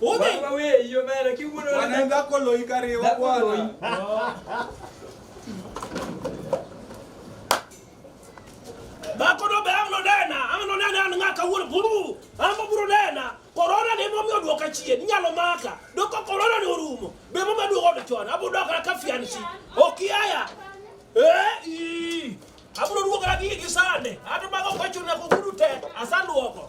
Baba wewe hiyo mara kiuno wanaenda kolo ikariwa bwana. Bako do be amno dena, amno dena an ngaka wuon buru, ambo buru dena. Corona ne momi oduoka chien, nyalo maka. Doko corona ne orumo. Be mama duogo do chon, abu dok na kafian chi. Okiaya. Eh, i. Abu do duogo na gi gisane. Ato mago kwacho na ko guru te, asanduoko.